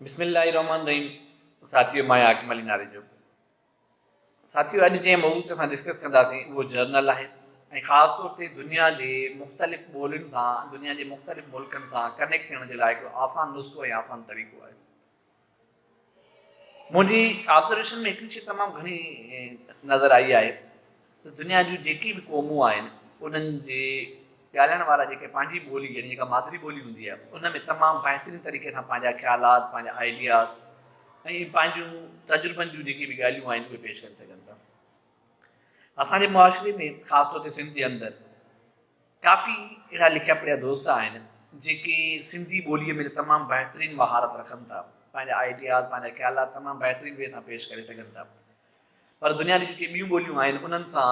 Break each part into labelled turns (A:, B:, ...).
A: بسم الله الرحمٰن الرحيم ساٿيو مان آهيان حاڪم علي ناري جو ساٿيو اڄ جنهن موضوع تي اسان ڊسڪس ڪنداسين اهو جرنل آهي ۽ خاص طور تي دنيا جي مختلف ٻولين سان دنيا جي مختلف ملڪن سان ڪنيڪٽ ٿيڻ جي لاء هڪڙو آسان نسخو ۽ آسان طريقو آهي منهنجي آبزرويشن ۾ هڪڙي شيء تمام گهڻي نظر آئي آهي ته دنيا جون جيڪي به قومون آهن انهن جي ڳالهائڻ وارا جيڪي پنهنجي ٻولي يعني جيڪا مادري ٻولي هوندي آهي ان ۾ تمام بهترين طريقي سان پنهنجا خيالات پنهنجا آئيڊياز ۽ پنهنجون تجربن جون جيڪي به ڳالهيون آهن اهي پيش ڪري سگهن ٿا اسان جي معاشري ۾ خاص طور تي سنڌ جي اندر ڪافي اهڙا لکيا پڙهيا دوست آهن جيڪي سنڌي ٻوليء ۾ تمام بهترين مهارت رکن ٿا پنهنجا آئيڊياز پنهنجا خيالات تمام بهترين وي سان پيش ڪري سگهن ٿا پر دنيا جون جيڪي ٻيون ٻوليون آهن انهن سان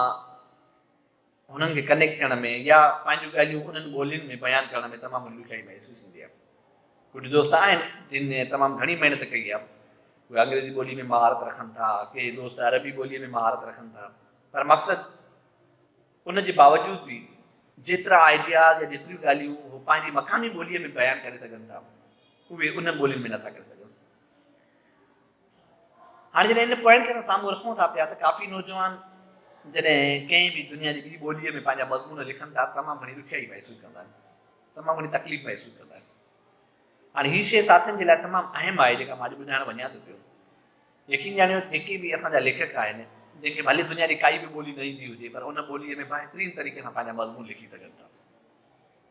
A: هنن کي ڪنيڪٽ ٿيڻ ۾ يا پنهنجون ڳالهيون انهن ٻولين ۾ بيان ڪرڻ ۾ تمام گهڻي ڏکيائي محسوس ٿيندي آهي. ڪجهه دوست آهن جن تمام گهڻي محنت ڪئي آهي. اهي انگريزي ٻولي ۾ مهارت رکن ٿا، ڪي دوست عربي ٻوليء ۾ مهارت رکن ٿا پر مقصد ان جي باوجود به جيترا آئيڊياز يا جيتريون ڳالهيون هو پنهنجي مقامي ٻوليء ۾ بيان ڪري سگهن ٿا اهي انهن ٻولين ۾ نٿا ڪري سگهن. هاڻي جڏهن ان پوائنٽ کي اسان سامهون رکون ٿا پيا ته ڪافي نوجوان جڏهن ڪنهن به دنيا جي ٻي ٻوليء ۾ پنهنجا مضمون لکن ٿا تمام گهڻي ڏکيائي محسوس ڪندا آهن تمام گهڻي تڪليف محسوس ڪندا آهن هاڻي هي شيء ساٿين جي لاء تمام اهم آهي جيڪا مان اڄ ٻڌائڻ وڃان ٿو پيو يقين ڄاڻيو جيڪي به اسان جا ليکڪ آهن جن کي ڀلي دنيا جي ڪائي به ٻولي نه ايندي هجي پر ان ٻوليء ۾ بهترين طريقي سان پنهنجا مضمون لکي سگهن ٿا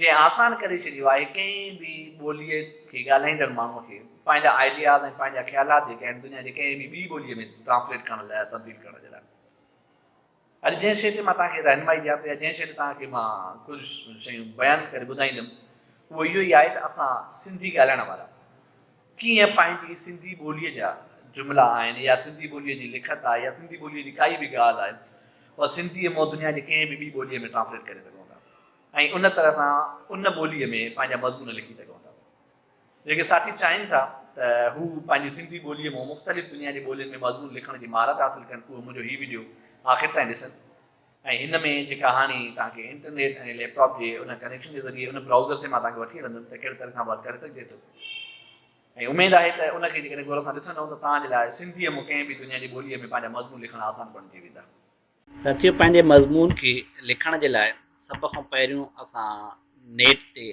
A: جنهن آسان ڪري ڇڏيو آهي ڪنهن به ٻوليء کي ڳالهائيندڙ ماڻهوء کي پنهنجا آئيڊياز ۽ پنهنجا خيالات جيڪي آهن دنيا جي ڪنهن به ٻي ٻوليء ۾ ٽرانسليٽ ڪرڻ لاء يا تبديل ڪرڻ جي لاء. اڄ جنهن شيء تي مان توهان کي رهنمائي ڏيان ٿو يا جنهن شيء تي توهان کي مان ڪجهه شيون بيان ڪري ٻڌائيندم اهو اهو ئي آهي ته اسان سنڌي ڳالهائڻ وارا ڪيئن پنهنجي سنڌي ٻوليء جا جملا آهن يا سنڌي ٻوليء جي لکت آهي يا سنڌي ٻوليء جي ڪائي به ڳالهه آهي اها سنڌيء مان دنيا جي ڪنهن به ٻي ٻوليء ۾ ٽرانسليٽ ڪري سگهون ٿا. ۽ ان طرح سان ان ٻوليء ۾ پنهنجا مضمون لکي سگهون ٿا. جيڪي ساٿي چاهين ٿا ته هو پنهنجي سنڌي ٻوليء مون مختلف دنيا جي ٻولين ۾ مضمون لکڻ جي مهارت حاصل ڪن اهي منهنجو هي وڊيو آخر تائين ڏسن ۽ هن ۾ جي ڪهاڻي توهان کي انٽرنيٽ ۽ ليپ ٽاپ جي ان ڪنيڪشن جي ذريعي ان براوزر تي مان توهان کي وٺي هلندم ته ڪهڙي طرح سان ورڪ ڪري سگهجي ٿو ۽ اميد آهي ته ان کي جيڪڏهن غور سان ڏسندؤ ته توهان جي لاء سنڌيء مون ڪنهن به دنيا جي ٻوليء ۾ پنهنجا مضمون لکڻ آسان بڻجي ويندا. ساٿيو پنهنجي مضمون کي لکڻ جي لاء سڀ کان پهريون اسان نيٽ تي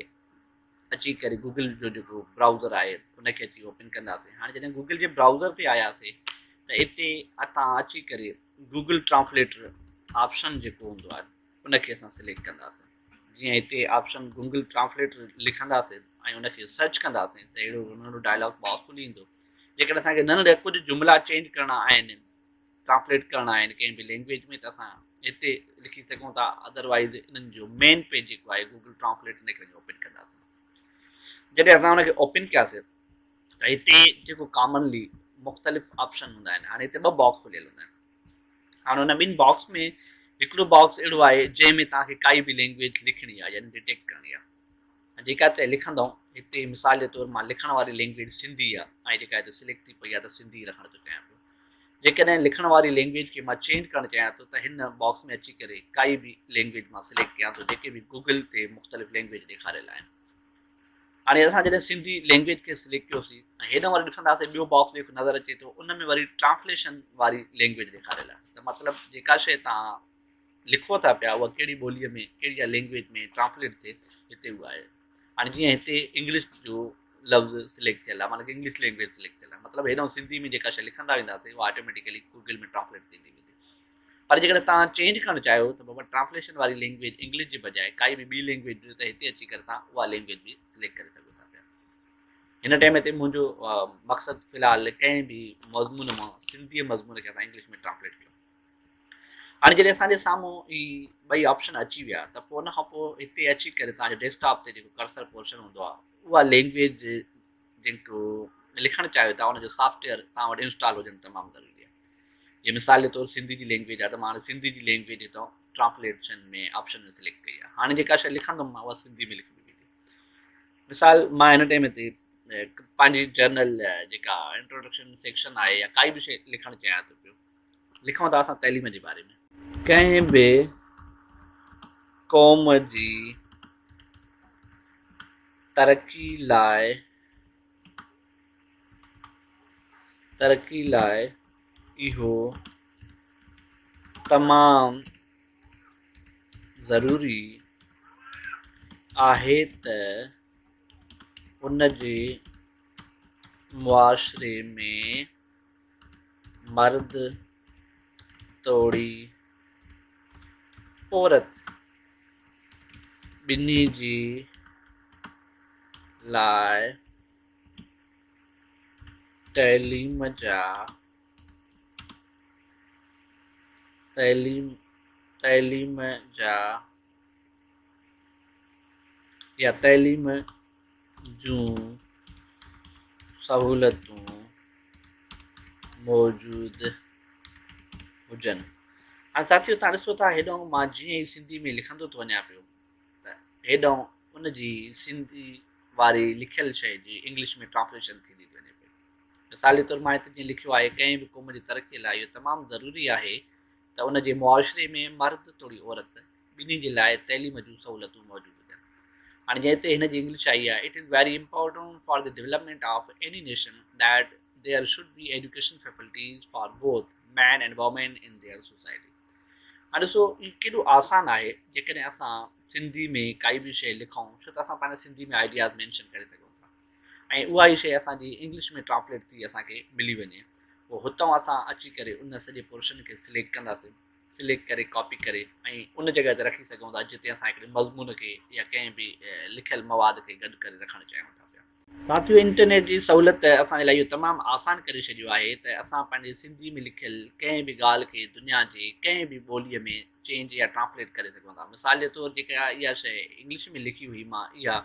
A: اچي ڪري گوگل جو جيڪو برائوزر آهي ان کي اچي اوپن ڪنداسين هاڻي جڏهن گوگل جي برائوزر تي آياسين ته اتي اتان اچي ڪري گوگل ٽرانسليٽر آپشن جيڪو هوندو آهي ان کي اسان سليڪٽ ڪنداسين جيئن هتي آپشن گوگل ٽرانسليٽر لکنداسين ۽ ان کي سرچ ڪنداسين ته اهڙو ننڍو ڊائلاگ باڪس کلي ايندو جيڪڏهن اسان کي ننڍا ڪجهه جملا چينج ڪرڻا آهن ٽرانسليٽ ڪرڻا آهن ڪنهن به لينگويج ۾ ته اسان هتي لکي سگهون ٿا اڌر وائيز انهن جو مين پيج جيڪو آهي گوگل ٽرانسليٽ ان کي اوپن ڪنداسين جڏهن اسان ان کي اوپن ڪياسين ته هتي جيڪو ڪامنلي مختلف آپشن هوندا آهن هاڻي هتي ٻه باڪس کليل هوندا آهن هاڻي ان ٻن باڪس ۾ هڪڙو باڪس اهڙو آهي جنهن ۾ توهان کي ڪائي به لينگويج لکڻي آهي يعني ڊيٽيڪٽ ڪرڻي آهي ۽ جيڪا هتي لکندؤن، هتي مثال جي طور مان لکڻ واري لينگويج سنڌي آ ۽ جيڪا هتي سليڪٽ ٿي پئي آ ته سنڌي رکڻ جو چاهيان پيو. جيڪڏهن لکڻ واري لينگويج کي مان چينج ڪرڻ چاهيان ٿو ته هن باڪس ۾ اچي ڪري ڪائي به لينگويج مان سليڪٽ ڪيان ٿو جيڪي به گوگل تي مختلف لينگويج ڏيکاريل آهن. هاڻي اسان جڏهن سنڌي لينگويج کي سليڪٽ ڪيو سين ۽ هيڏانهن وري ڏسنداسين ٻيو باڪس جيڪو نظر اچي ٿو ان ۾ وري ٽرانسليشن واري لينگويج ڏيکاريل آهي ته مطلب جيڪا شيء توهان لکو ٿا پيا اها ڪهڙي ٻوليء ۾ ڪهڙي يا لينگويج ۾ ٽرانسليٽ ٿئي هتي اها آهي هاڻي جيئن هتي انگلش جو لفظ سليڪٽ ٿيل آهي معنيٰ ته انگلش لينگويج سليڪٽ ٿيل آهي مطلب هيڏانهن سنڌي ۾ جيڪا شيء لکندا وينداسين اها آٽوميٽيڪلي گوگل ۾ ٽرانسليٽ ٿيندي ويندي پر جيڪڏهن توهان چينج ڪرڻ چاهيو ته بابا ٽرانسليشن واري لينگويج انگلش جي بجاء ڪائي به ٻي لينگويج ڏجو ته هتي اچي ڪري توهان اها لينگويج به سليڪٽ ڪري سگهو ٿا پيا هن ٽائيم هتي منهنجو مقصد في الحال ڪنهن به مضمون مان سنڌي مضمون کي اسان انگلش ۾ ٽرانسليٽ ڪيو هاڻي جڏهن اسان جي سامهون هي ٻئي آپشن اچي ويا ته پوء ان کانپوء هتي اچي ڪري توهان جي ڊيسڪ ٽاپ تي جيڪو ڪرسر پورشن هوندو آهي اها لينگويج جنهن ڪو ۾ لکڻ چاهيو ٿا ان جو سافٽ ويئر توهان وٽ انسٽال هجڻ تمام ضروري آهي جيئن
B: مثال جي طور سنڌي جي لينگويج آهي ته مان هاڻي سنڌي جي لينگويج هتان ٽرانسليشن ۾ آپشن ۾ سليڪٽ ڪئي آهي هاڻي جيڪا شيء لکندم مان اها سنڌي ۾ لکبي ويندي مثال مان هن ٽائم تي پنهنجي جرنل جيڪا انٽروڊڪشن سيڪشن آهي يا ڪائي به شيء لکڻ چاهيان ٿو پيو لکون ٿا اسان تعليم جي باري ۾. ڪنهن به قوم جي ترقي لاء ترقي لاء اهو تمام ضروري آهي ته ان جي معاشري ۾ مرد توڙي عورت ٻنهي جي لاء تعليم جا تعليم تعليم جا يا تعليم جون سهولتون موجود هجن. هاڻي ساٿيو تهان ڏسو ٿا هيڏانهن مان جيئن ئي سنڌي ۾ لکندو ٿو وڃان پيو ته هيڏانهن ان جي سنڌي واري لکيل شيء جي انگلش ۾ ٽرانسليشن ٿيندي ٿي وڃي پئي. مثال جي طور مان هتي جيئن لکيو آهي ڪنهن به قوم جي ترقيء لاء اهو تمام ضروري آهي ته ان جي معاشري ۾ مرد توڙي عورت ٻنهي جي لاء تعليم جون سهولتون موجود هجن. هاڻي جنهن تي هن جي انگلش آئي آهي، It is very important for the development of any nation that there should be education faculties for both men and women in their society. هاڻي ڏسو هي ڪيڏو آسان آهي جيڪڏهن اسان سنڌي ۾ ڪائي به شيء لکون ڇو ته اسان پنهنجا سنڌي ۾ آئيڊياز مينشن ڪري سگهون ٿا ۽ اها ئي شيء اسان جي انگلش ۾ ٽرانسليٽ ٿي اسان کي ملي وڃي پوء هتان اسان اچي ڪري ان سڄي پورشن کي سليڪٽ ڪنداسين سليڪٽ ڪري ڪاپي ڪري ۽ ان جڳهه تي رکي سگهون ٿا جتي اسان هڪڙي مضمون کي يا ڪنهن به لکيل مواد کي گڏ ڪري رکڻ چاهيون ٿا پيا. ساٿيو انٽرنيٽ جي سهولت اسان جي لاء اهو تمام آسان ڪري ڇڏيو آهي ته اسان پنهنجي سنڌي ۾ لکيل ڪنهن به ڳالهه کي دنيا جي ڪنهن به ٻولي ۾ چينج يا ٽرانسليٽ ڪري سگهون ٿا مثال جي طور جيڪا اها شيء انگلش ۾ لکي هئي مان اها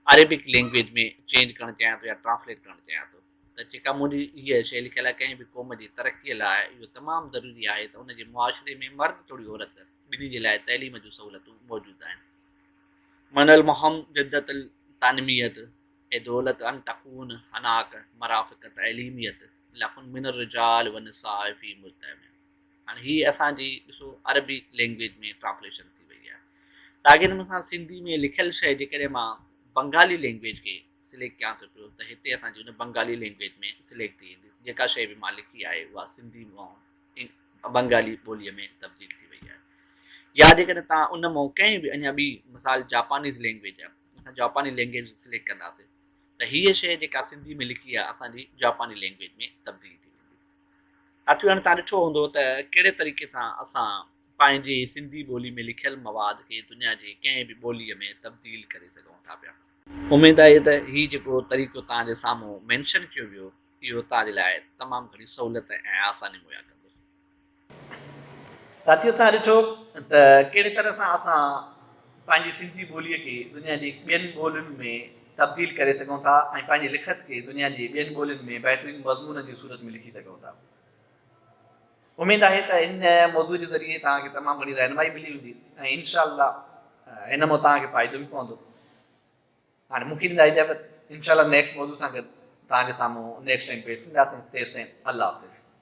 B: عربڪ لينگويج ۾ چينج ڪرڻ چاهيان ٿو يا ٽرانسليٽ ڪرڻ چاهيان ٿو. ته جيڪا مون ڏي هيء شيء لکيل آهي، ڪنهن به قوم جي ترقيء لاء اهو تمام ضروري آهي ته ان جي معاشري ۾ مرد توڙي عورت ٻنهي جي لاء تعليم جون سهولتون موجود آهن. من المهم جدت التنميت اي دولت ان تكون هناڪ مرافق تعليميت لكن من الرجال والنساء في مجتمع هاڻي هيء اسان جي ڏسو عربي لينگويج ۾ ٽرانسليشن ٿي وئي آهي ساڳئي نموني سان سنڌي ۾ لکيل شيء جيڪڏهن مان بنگالي لينگويج کي سليڪٽ ڪيان ٿو پيو ته هتي اسان جي ان بنگالي لينگويج ۾ سليڪٽ ٿي ويندي جيڪا شيء به مان لکي آهي اها سنڌي مئون بنگالي ٻوليء ۾ تبديل ٿي وئي آهي يا جيڪڏهن توهان ان مئون ڪنهن به اڃا ٻي مثال جاپانيز لينگويج آهي اسان جاپاني لينگويج سليڪٽ ڪنداسين ته هيء شيء جيڪا سنڌي ۾ لکي آهي اسان جي جاپاني لينگويج ۾ تبديل ٿي ويندي ساٿيو هاڻي توهان ڏٺو هوندو ته ڪهڙي طريقي سان اسان پنهنجي سنڌي ٻولي ۾ لکيل مواد کي دنيا جي ڪنهن به ٻوليء ۾ تبديل ڪري سگهون ٿا پيا اميد آهي ته هي جيڪو طريقو توهان جي سامهون مينشن ڪيو ويو اهو توهان جي لاء تمام گهڻي سهولت ۽ آساني مهيا ڪندو. ساٿيو
A: توهان ڏٺو ته ڪهڙي طرح سان اسان پنهنجي سنڌي ٻولي کي دنيا جي ٻين ٻولين ۾ تبديل ڪري سگهون ٿا ۽ پنهنجي لکت کي دنيا جي ٻين ٻولين ۾ بهترين مضمونن جي صورت ۾ لکي سگهون ٿا. اميد آهي ته ان موضوع جي ذريعي توهان کي تمام گهڻي رهنمائي ملي هوندي ۽ انشاء الله ان مان توهان کي فائدو به پوندو. هاڻي مون کي ڏيندا اجازت انشاء الله نيڪسٽ موضوع سان گڏ توهان جي سامهون نيڪسٽ ٽائيم پيش ٿينداسين تيستائين الله حافظ.